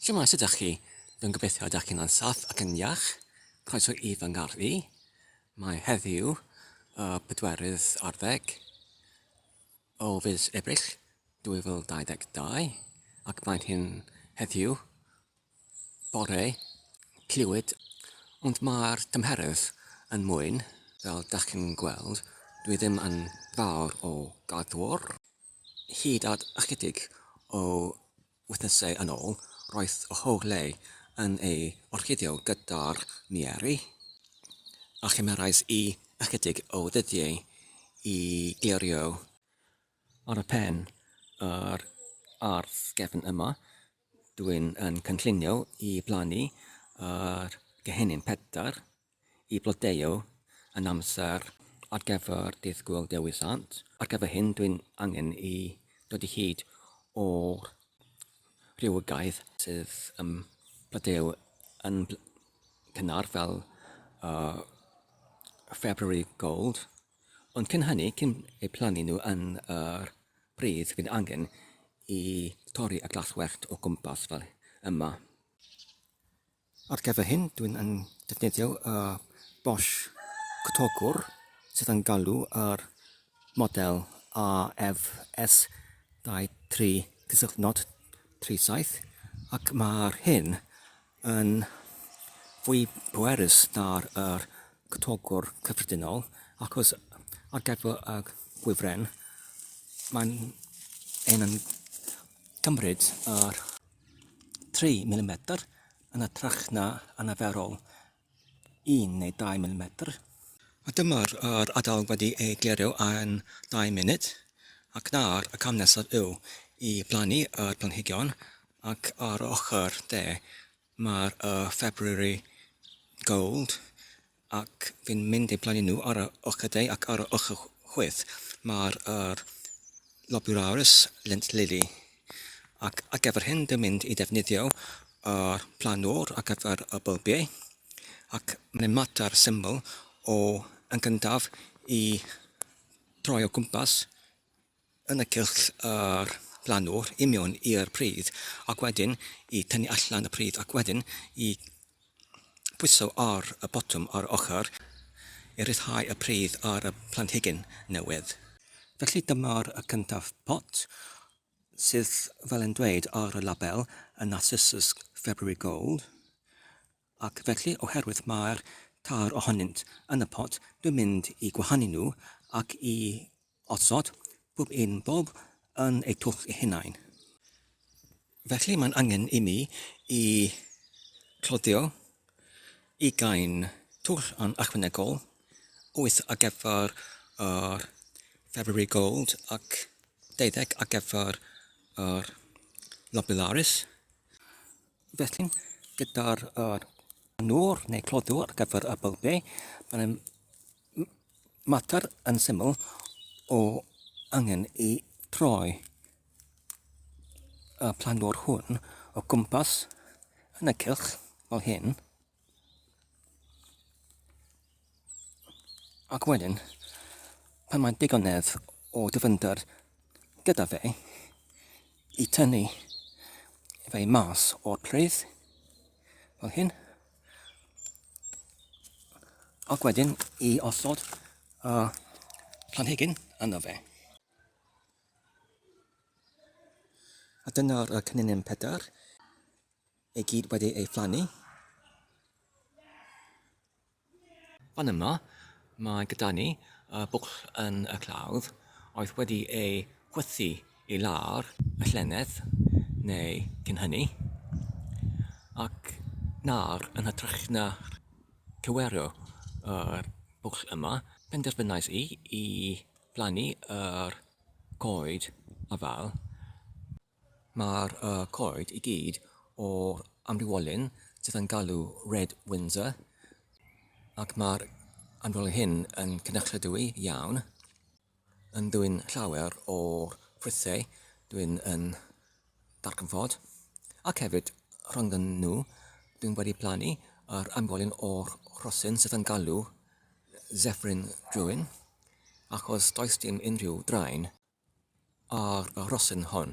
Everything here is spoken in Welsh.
Shwmae, sut ydych chi? Rwy'n gobeithio y dych chi'n ansaff ac yn iach. Croeso i fy ngardd i. Mae heddiw y pedwerydd ar ddeg o fis Ebrill 2022 ac mae'n hyn heddiw bore Clwyd ond mae'r tymheredd yn mwyn fel dych chi'n gweld dwi ddim yn fawr o gaddwr hyd at ychydig o Wythnosau yn ôl, roedd Ohoole yn ei orchuddio gyda'r mieri, a chymerais i ychydig o ddyddiau i glirio. Ar y pen, yr ardd gefn yma, dw i'n cynllunio i blannu yr gehennyn pedair i flodeuo yn amser ar gyfer Dydd Gŵyl Dewi Sant. Ar gyfer hyn dwi'n angen i dod i hyd o'r rhywogaeth sydd yn blodeuo yn cynnar fel uh, February Gold. Ond cyn hynny, cyn eu plannu nhw yn yr uh, pridd, fydd angen i torri y glaswellt o gwmpas fel yma. Ar gyfer hyn, dwi'n yn defnyddio y Bosch Cotogwr sydd yn galw ar model AFS 23.37 ac mae'r hyn yn fwy pwerus na'r yr Cotogwr cyffredinol achos ar gyfer y gwifren mae'n ein yn cymryd yr 3 mm yn hytrach na anaferol 1 neu 2 mm. A dyma'r yr adael wedi ei glirio yn dau munud ac nawr y cam nesaf yw i blannu yr planhigion ac ar yr ochr de mae'r y February Gold Ac fi'n mynd eu blaenu nhw ar ochr y de ac ar y ochr chwith mae'r yr Lobularis lent lili. Ac ar gyfer hyn dwi'n mynd i ddefnyddio yr planwr ar gyfer y bylbiau ac mae'n ei mater syml o yn gyntaf i droi o gwmpas yn y cylch a'r plannwr i mewn i'r pridd ac wedyn i tynnu allan y pridd ac wedyn i bwyso ar y botwm ar yr ochr i ryddhau y pridd ar y planhigyn newydd. Felly dyma'r cyntaf pot sydd fel yn dweud ar y label 'Narcissus February Gold'. Ac felly, oherwydd mai'r tair ohonynt yn y pot, dwi'n mynd i gwahanu nhw ac i osod pob un bob yn eu twll eu hunain. Felly mae'n angen i mi i cloddio ugain twll yn ychwanegol, wyth ar gyfer yr February Gold ac deuddeg ar gyfer yr Lobellaris. Felly, gyda'r uh, nŵr neu clodw ar gyfer y bylbi, mae'n mater yn syml o angen i troi y planwr hwn o gwmpas yn y cylch fel hyn, Ac wedyn, pan mae digonedd o dyfynder gyda fe i tynnu fe mas o'r pridd, fel hyn, ac wedyn i osod y uh, planhigyn yno fe. A dyna'r uh, cynnynion pedair. I gyd wedi ei phlannu. Fan yma, mae gyda ni y bwcl yn y clawdd oedd wedi ei chwythu i lawr y llynedd neu cyn hynny, ac nawr yn hytrach na cywerio yr bwcl yma, penderfynais i i blannu yr coed afael. Mae'r coed i gyd o'r amrywiolyn sydd yn galw Red Windsor ac mae'r amrywiolyn hyn yn cynrychioliadwy iawn yn dwyn llawer o'r ffrwythau dwi'n yn darganfod ac hefyd rhyngddyn nhw dwi'n wedi plannu yr amrywiolyn o'r rhosyn sydd yn galw Zephyrin Druin achos does dim unrhyw draen Ar y rhosyn hon.